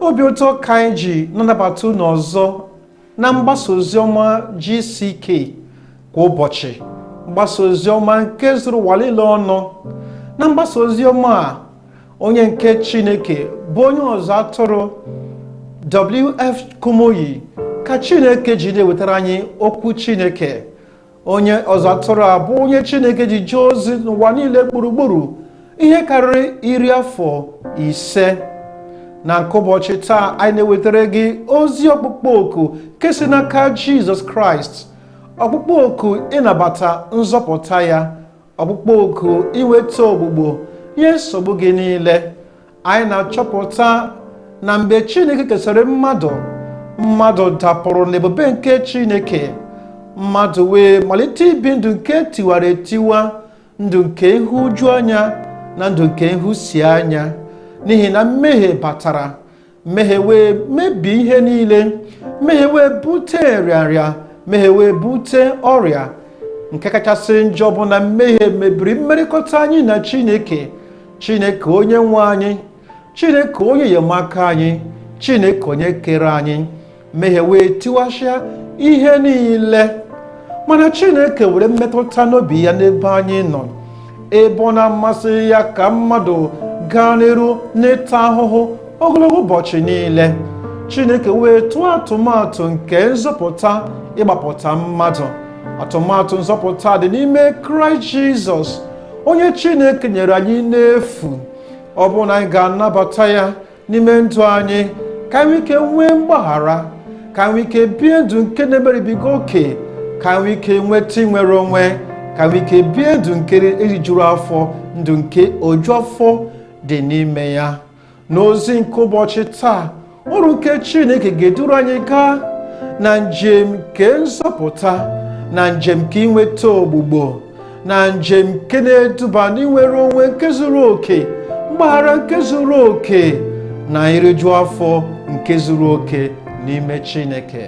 obi ụtọ ka anyị ji na-anabata unu ọzọ na mgbasa oziọma GCK kwa ụbọchị mgbasa oziọma nke zuru ụwa niile ọnụ na mgbasa oziọma a onye nke chineke bụ onye ọzụ atụrụ wf kumuyi ka chineke ji na-ewetara anyị okwu chineke onye ọzụ atụrụ a bụ onye chineke ji jee ozi n'ụwa niile gburugburu ihe karịrị iri afọ ise na nke ụbọchị taa anyị na-ewetara gị ozi ọkpụkpọ oku nke si n'aka jizọs kraịst ọkpụkpọ oku ịnabata nzọpụta ya ọkpụkpọ oku inweta ogbugbo nye nsogbu gị niile anyị na-achọpụta na mgbe chineke kesịrị mmadụ mmadụ dapụrụ n'ebube nke chineke mmadụ wee malite ibi ndụ nke tiwara etiwa ndụ nke ịhụju anya na ndụ nke ịhụsi anya n'ihi na mmehie batara mmehie wee mebie ihe niile mmehie wee bute nrịanrịa mmehie wee bute ọrịa nke kachasị njọ bụ na mmehie mebiri mmerịkọta anyị na chineke chineke onye nwe anyị chineke onye enyemaka anyị chineke onye kere anyị mmehie wee tiwasịa ihe niile mana chineke nwere mmetụta n'obi ya n'ebe anyị nọ ebe ọ na-amasịghị ya ka mmadụ gaa n'iru n'ịta ahụhụ ogologo ụbọchị niile chineke wee tụọ atụmatụ nke nzọpụta ịgbapụta mmadụ atụmatụ nzọpụta dị n'ime kraịst jizọs onye chineke nyere anyị n'efu ọ bụrụ na anyị ga-anabata ya n'ime ndụ anyị ka anyị nwee ike nwee mgbaghara ka anyị nwee ike bie ndụ nke na-emeribiga oke ka anyị nwee ike nweta inwere onwe ka anyị nwee ike bie ndụ nke erijuru afọ ndụ nke oju afọ dị n'ime ya n'ozi nke ụbọchị taa oru nke chineke ga-eduru anyị gaa na njem nke nzọpụta na njem nke inweta ogbugbo na njem nke na-eduba n'inwere onwe nke zuru oke mgbaghara nke zuru oke na iriju afọ nke zuru oke n'ime Chineke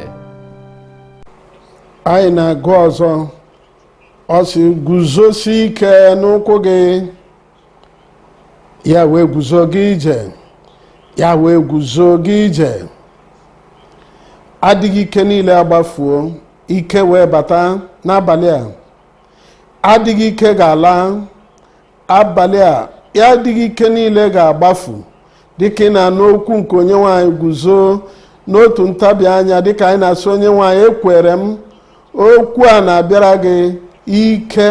anyị na-agụ ọzọ ọ sị guzosi ike n'ụkwụ gị ya wee guzo gaa ije ya wee guzo gaa ije adịghị ike niile agbafuo ike wee bata n'abalị a adịghị ike ga-ala abalị a adịghị ike niile ga-agbafu dịka ị na-anụ okwu nke onyenwe anyị guzo n'otu ntabi anya dịka anyị na-asị onyenwe anyị ekwere m okwu a na-abịara gị ike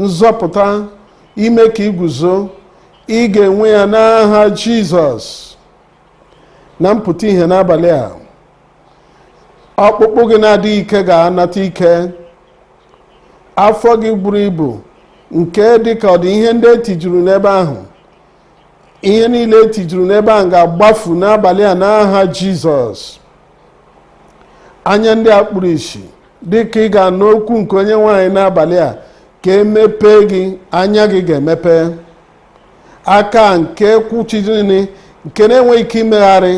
nzọpụta ime ka i guzo ị ga-enwe ya n'aha jizọs na mpụta ihe n'abalị a ọkpụkpụ gị na-adịghị ike ga-anata ike afọ gị buru ibu nke dị ka ọ dị ihe ndị e tijuru n'ebe ahụ ihe niile e tijuru n'ebe ahụ ga-agbafu n'abalị a n'aha jizọs anya ndị a kpuru isi dị ka ị ga-anụ okwu nke onyenwe anyị n'abalị a ka e mepee gị anya gị ga-emepe aka nke kwụchidịrị nke na-enweghị ike imegharị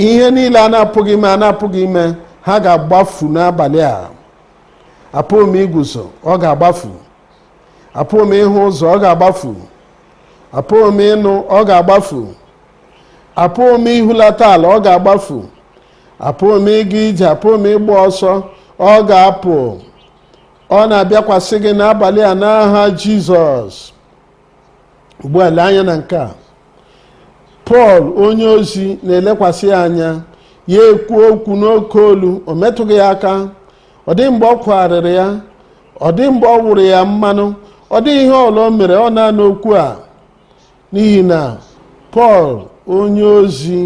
ihe niile a na-apụghị ime a na-apụghị ime ha ga-agbafu n'abalị a apụghị m iguzo ọ ga-agbafu apụghị m ịhụ ụzọ ọ ga-agbafu apụghị m ịnụ ọ ga-agbafu apụghị m ihulata ala ọ ga-agbafu apụghị m ịga ije apụghị m ịgba ọsọ ọ ga-apụ ọ na-abịakwasị gị n'abalị a n'aha jizọs ugbu a lee anya na nke a pọl onye ozi na-elekwasị ya anya ya ekwu okwu n'oke olu o metụghị ya aka ọ dịghị mgbe ọ kwagharịrị ya ọ dịghị mgbe ọ wụrụ ya mmanụ ọ dịghị ihe ọ bụla o mere ọ na-anụ okwu a n'ihi na pọl onye ozi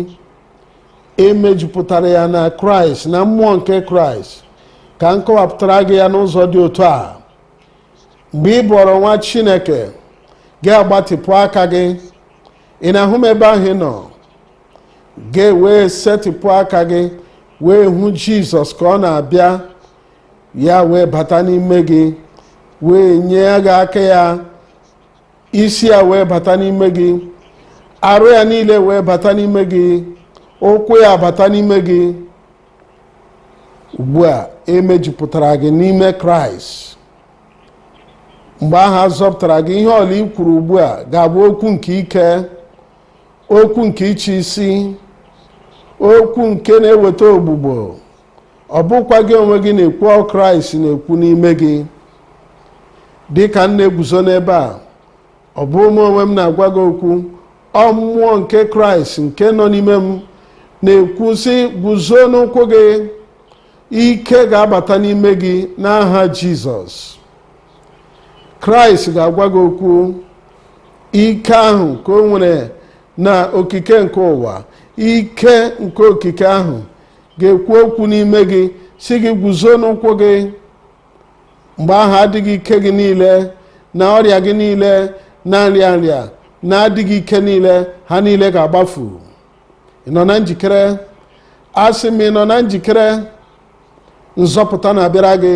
e mejupụtara ya na kraịst na mmụọ nke kraịst ka m kọwapụtara gị ya n'ụzọ dị otu a mgbe ị bụọrọ nwa chineke gị agbatịpụ aka gị ị na-ahụ m ebe ahụ ị nọ gị wee setịpụ aka gị wee hụ jizọs ka ọ na-abịa ya wee bata n'ime gị wee nye gị aka ya isi ya wee bata n'ime gị arụ ya niile wee bata n'ime gị ụkwụ ya bata n'ime gị ugbu a e mejupụtara gị n'ime kraịst mgbe ahụ a zọpụtara gị ihe ọ bụla i kwuru ugbu a ga-abụ okwu nke ike okwu nke ịchị isi okwu nke na-eweta ọgwụgwọ ọ bụghịkwa gị onwe gị na-ekwu ọ bụ kraịst na-ekwu n'ime gị dị ka m na-eguzo n'ebe a ọ bụghị mụ onwe m na-agwa gị okwu ọ mmụọ nke kraịst nke nọ n'ime m na-ekwu sị guzo n'ụkwụ gị ike ga-abata n'ime gị n'aha jizọs kraịst ga-agwa gị okwu ike ahụ ka o nwere na okike nke ụwa ike nke okike ahụ ga-ekwu okwu n'ime gị sị gị guzo n'ụkwụ gị mgbe ahụ adịghị ike gị niile na ọrịa gị niile na nrịa nrịa na adịghị ike niile ha niile ga-agbafu ị nọ na njikere asị m ị nọ na njikere nzọpụta na-abịara gị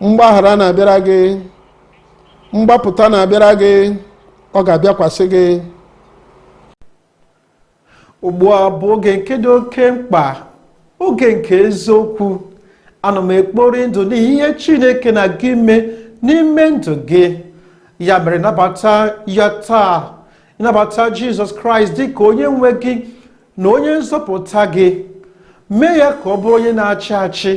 mgbaghara na-abịara gị mgbapụta na-abịara gị ọ ga-abịakwasị gị ugbu a bụ oge nke dị oke mkpa oge nke eziokwu ana m ekpori ndụ n'ihi ihe chineke na-aga ime n'ime ndụ gị ya mere nabata ya taa nabata jizọs kraịst dị ka onye nwe gị na onye nzọpụta gị mee ya ka ọ bụrụ onye na-achị achị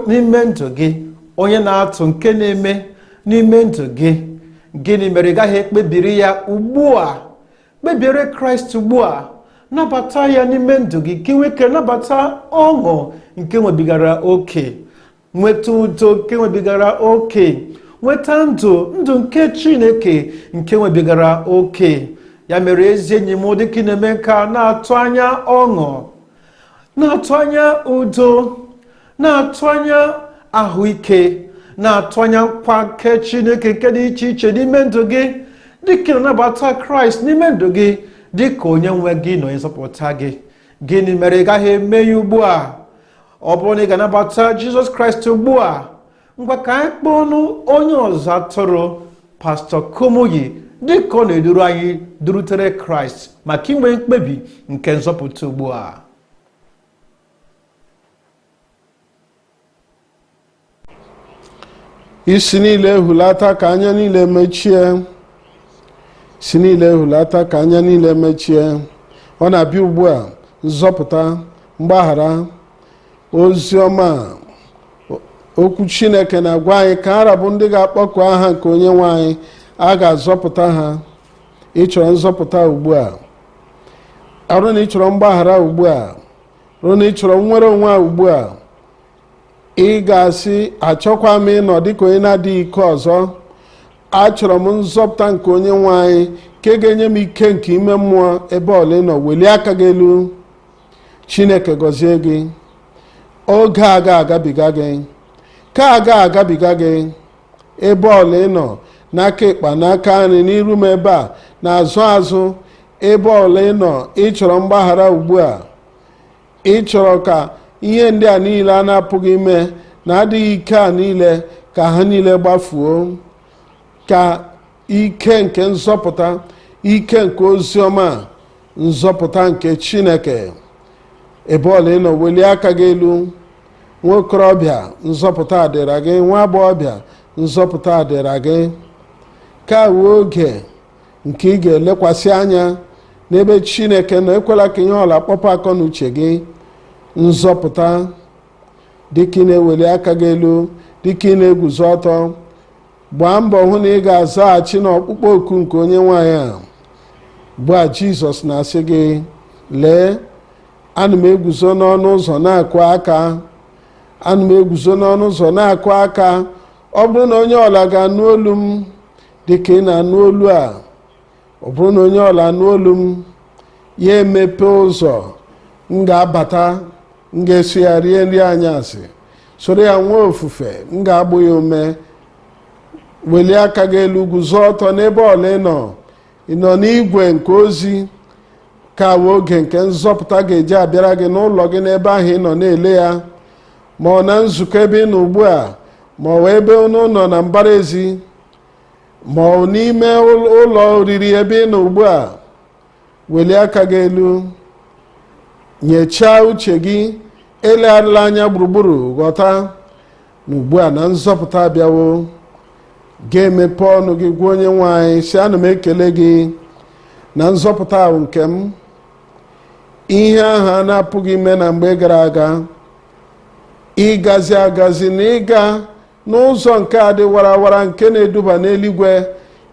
n'ime ndụ gị onye na-atụ nke na-eme n'ime ndụ gị gịnị mere ị gaghị ekpebiri ya ugbu a kpebiere kraịst ugbu a nabata ya n'ime ndụ gị ka i nwee ike nabata ọṅụ nke nwebigara oke nweta udo nke nwebigara oke nweta ndụ ndụ nke chineke nke nwebigara oke ya mere ezi enyi m dịka ị na-eme nke a na-atụ anya ọṅụ na-atụ anya udo na-atụ anya ahụike na-atụ anya nkwa nke chineke nke dị iche iche n'ime ndụ gị dịka ị na-anabata kraịst n'ime ndụ gị dịka onye nwe gị na onye nzọpụta gị gịnị mere ị gaghị eme ya ugbu a ọ bụrụ na ị ga-anabata jizọs kraịst ugbu a ngwa ka anyị kpọọnụ onye ọzụ atụrụ pastọ Kumuyi dịka ọ na-eduru anyị durutere kraịst maka inwe mkpebi nke nzọpụta ugbu a isi niile hulata ka anya niile mechie isi niile hulata ka anya niile mechie ọ na-abịa ugbu a nzọpụta mgbaghara ozi ọma okwu chineke na-agwa anyị ka ha ra bụ ndị ga-akpọku aha nke onye nwe anyị a ga-azọpụta ha ị chọrọ nzọpụta ugbu a ọ bụrụ na ị chọrọ mgbaghara ugbu a ọ bụrụ na ị chọrọ nnwere onwe a ugbu a ị ga-asị achọghịkwa m ịnọ dịka onye na-adịghị ike ọzọ achọrọ m nzọpụta nke onye nwe anyị nke ga-enye m ike nke ime mmụọ ebe ọ bụla ị nọ welie aka gị elu chineke gọzie gị oge a ga-agabiga gị ka a ga-agabiga gị ebe ọla ị nọ n'aka ịkpa n'aka nri n'iru m ebe a n'azụ azụ ebe ọla ị nọ ị chọrọ mgbaghara ugbu a ị chọrọ ka ihe ndị a niile a na-apụghị ime na adịghị ike a niile ka ha niile gbafuo ka ike nke nzọpụta ike nke ozi ọma nzọpụta nke chineke ebe ọla ị nọ welie aka gị elu nwa okorobịa nzọpụta adịra gị nwa agbọghọbịa nzọpụta adịra gị ka wụ oge nke ị ga-elekwasị anya n'ebe chineke nọ ekwela ka ihe ọla kpọpụ akọ na uche gị nzọpụta dịka ị na-eweli aka gị elu dịka ị na-eguzo ọtọ gbaa mbọ hụ na ị ga-azaghachi n'ọkpụkpọ oku nke onye nwe anyị ugbu a jizọs na-asị gị lee ana m eguzo n'ọnụ ụzọ na-akụ aka ana m eguzo n'ọnụ ụzọ na-akụ aka ọ bụrụ na onye ọla ga-anụ olu m dị ka ị na-anụ olu a ọ bụrụ na onye ọla anụ olu m ya emepe ụzọ m ga-abata m ga-eso ya rie nri anyasị soro ya nwee ofufe m ga-agba ya ume welie aka gị elu guzo ọtọ n'ebe ọla ị nọ ị nọ n'igwe nke ozi ka wụ oge nke nzọpụta ga-eji abịara gị n'ụlọ gị n'ebe ahụ ị nọ na-ele ya ma ọ na nzukọ ebe ị nọ ugbu a ma ọ wụ ebe unu nọ na mbara ezi ma ọ bụ n'ime ụl- ụlọ oriri ebe ị nọ ugbu a welie aka gị elu nyechaa uche gị elegharịla anya gburugburu ghọta na ugbu a na nzọpụta abịawo ga-emepe ọnụ gị gwa onye nwe anyị sị ana m ekele gị na nzọpụta a wụ nke m ihe ahụ a na-apụghị ime na mgbe gara aga ịgazi agazi na ịga n'ụzọ nke a dị warawara nke na-eduba n'eluigwe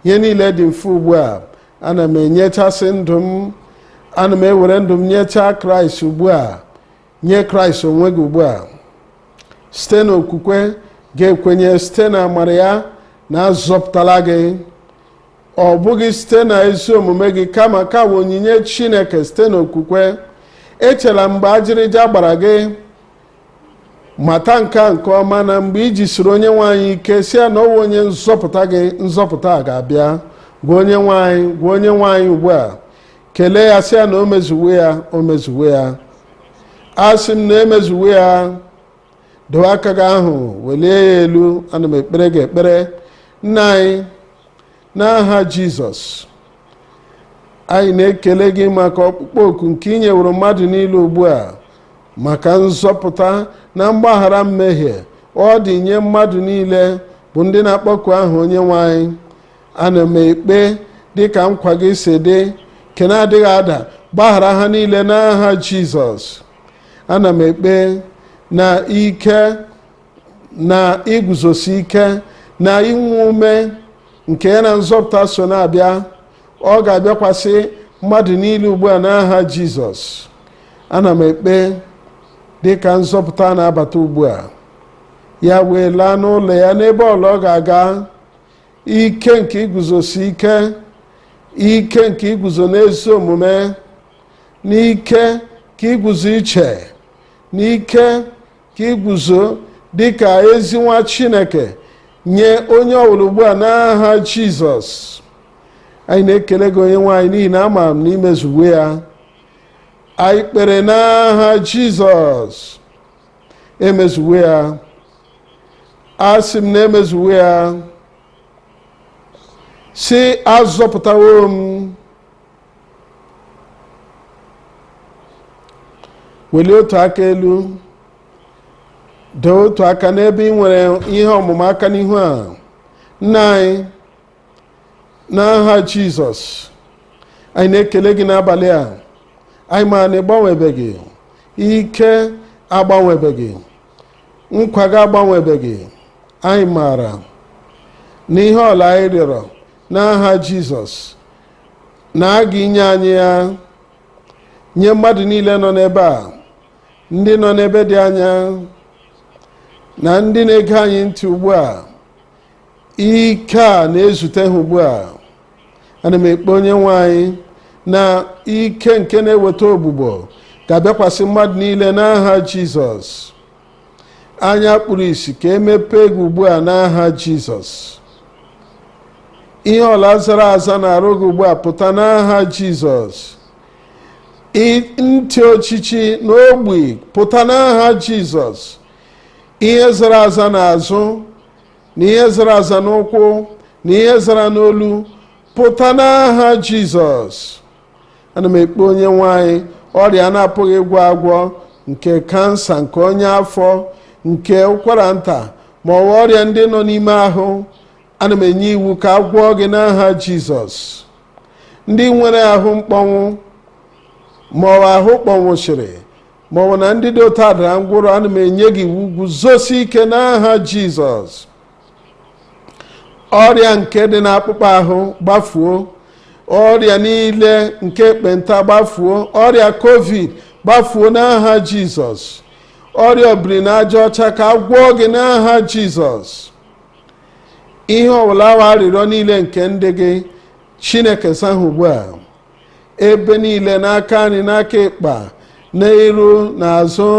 ihe niile dị mfe ugbu a ana m enyechasị ndụ m ana m ewere ndụ m nyechaa kraịst ugbu a nye kraịst onwe gị ugbu a site n'okwukwe ga-ekwenye site na amara ya na azọpụtala gị ọ bụghị site na ezi omume gị kama ka bụ onyinye chineke site n'okwukwe echela mgbe ajịrịja gbara gị mata nke a nke ọma na mgbe i jisiri onye nwe anyị ike sị ya na ọ wụ onye nzọpụta gị nzọpụta a ga-abịa gwa onye nwe anyị gwa onye nwe anyị ugbu a kelee ya sị ya na o mezuwe ya o mezuwe ya asị m na e mezuwe ya dowe aka gị ahụ welie ya elu ana m ekpere gị ekpere nna anyị n'aha jizọs anyị na-ekele gị maka ọkpụkpọ oku nke ị nyeworo mmadụ niile ugbu a maka nzọpụta na mgbaghara mmehie ọ dị nye mmadụ niile bụ ndị na-akpọku aha onye nwe anyị ana m ekpe dịka nkwa gị si dị nke na-adịghị ada gbaghara ha niile n'aha jizọs ana m ekpe na ike na iguzosi ike na inwe ume nke ya na nzọpụta so na-abịa ọ ga-abịakwasị mmadụ niile ugbu a n'aha jizọs ana m ekpe dị ka nzọpụta na-abata ugbu a ya wee laa n'ụlọ ya n'ebe ọbụla ọ ga-aga ike nke iguzosi ike ike nke iguzo n'ezi omume na ike nke iguzo iche na ike nke iguzo dị ka ezi nwa chineke nye onye ọbụla ugbu a n'aha jizọs anyị na-ekele gị onye nwe anyị n'ihi na ama m na i mezuwo ya anyị kpere n'aha jizọs emezuwo ya asị m na emezuwo ya sị azọpụtawo m welie otu aka elu dee otu aka n'ebe ị nwere ihe ọmụma aka n'ihu a nna anyị n'aha jizọs anyị na-ekele gị n'abalị a anyị maara na ịgbanwebeghị ike agbanwebeghị nkwa gị agbanwebeghị anyị maara na ihe ọbụla anyị rịọrọ n'aha jizọs na a ga-enye anyị ya nye mmadụ niile nọ n'ebe a ndị nọ n'ebe dị anya na ndị na-ege anyị ntị ugbu a ike a na-ezute ha ugbu a ana m ekpe onye nwe anyị na ike nke na-eweta ọgwụgwọ ga-abịakwasị mmadụ niile n'aha jizọs anya kpuru isi ka emepee gị ugbu a n'aha jizọs ihe ọbụla zara aza n'arụ gị ugbu a pụta n'aha jizọs ntị ochichi na ogbi pụta n'aha jizọs ihe zara aza n'azụ na ihe zara aza n'ụkwụ na ihe zara n'olu pụta n'aha jizọs ana m ekpe onye nwe anyị ọrịa a na-apụghị ịgwọ agwọ nke kansa nke ọnya afọ nke ụkwara nta ma ọ bụ ọrịa ndị nọ n'ime ahụ ana m enye iwu ka a gwọọ gị n'aha jizọs ndị nwere ahụ mkpọnwụ ma ọ bụ ahụ kpọnwụsịrị ma ọ bụ na ndị dị otu a dara ngwọrọ ana m enye gị iwu guzosi ike n'aha jizọs ọrịa nke dị n'akpụkpọ ahụ gbafuo ọrịa niile nke ekpenta gbafuo ọrịa covid gbafuo n'aha jizọs ọrịa obiri na aja ọcha ka a gwọọ gị n'aha jizọs ihe ọwụla wụ arịrịọ niile nke ndị gị chineke saa ha ugbu a ebe niile n'aka nri n'aka ịkpa n'iru n'azụ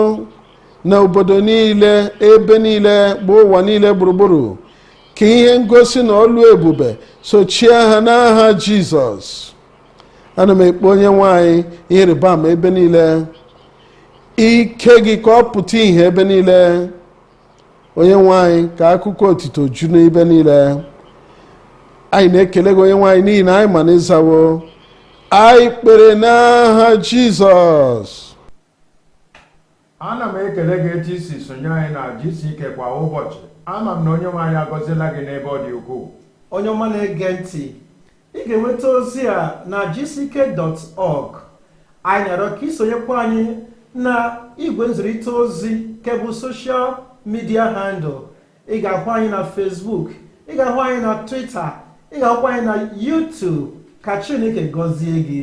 na obodo niile ebe niile bụ ụwa niile gburugburu ka ihe ngosi na ọlụ ebube sochie ha n'aha jizọs ana m ekpe onye nwe anyị ihe ịrịba ama ebe niile ike gị ka ọ pụta ihe ebe niile onye nwe anyị ka akụkọ otito ju n'ebe niile anyị na-ekele gị onye nwe anyị n'ihi na anyị ma na ị zawo anyị kpere n'aha jizọs ana m ekele gị etu i si sonye anyị na GCK kwa ụbọchị ama m na onye nwe anyị agọziela gị n'ebe ọ dị ukwuu onye ọma na-ege ntị Ị ga-enweta ozi a na gck.org. Anyị na-arịọ ka i sonyekwa anyị na igwe nzirịta ozi nke bụ social media handle ị ga-ahụ anyị na Facebook ị ga-ahụ anyị na Twitter ị ga-ahụkwa anyị na YouTube ka Chineke gọzie gị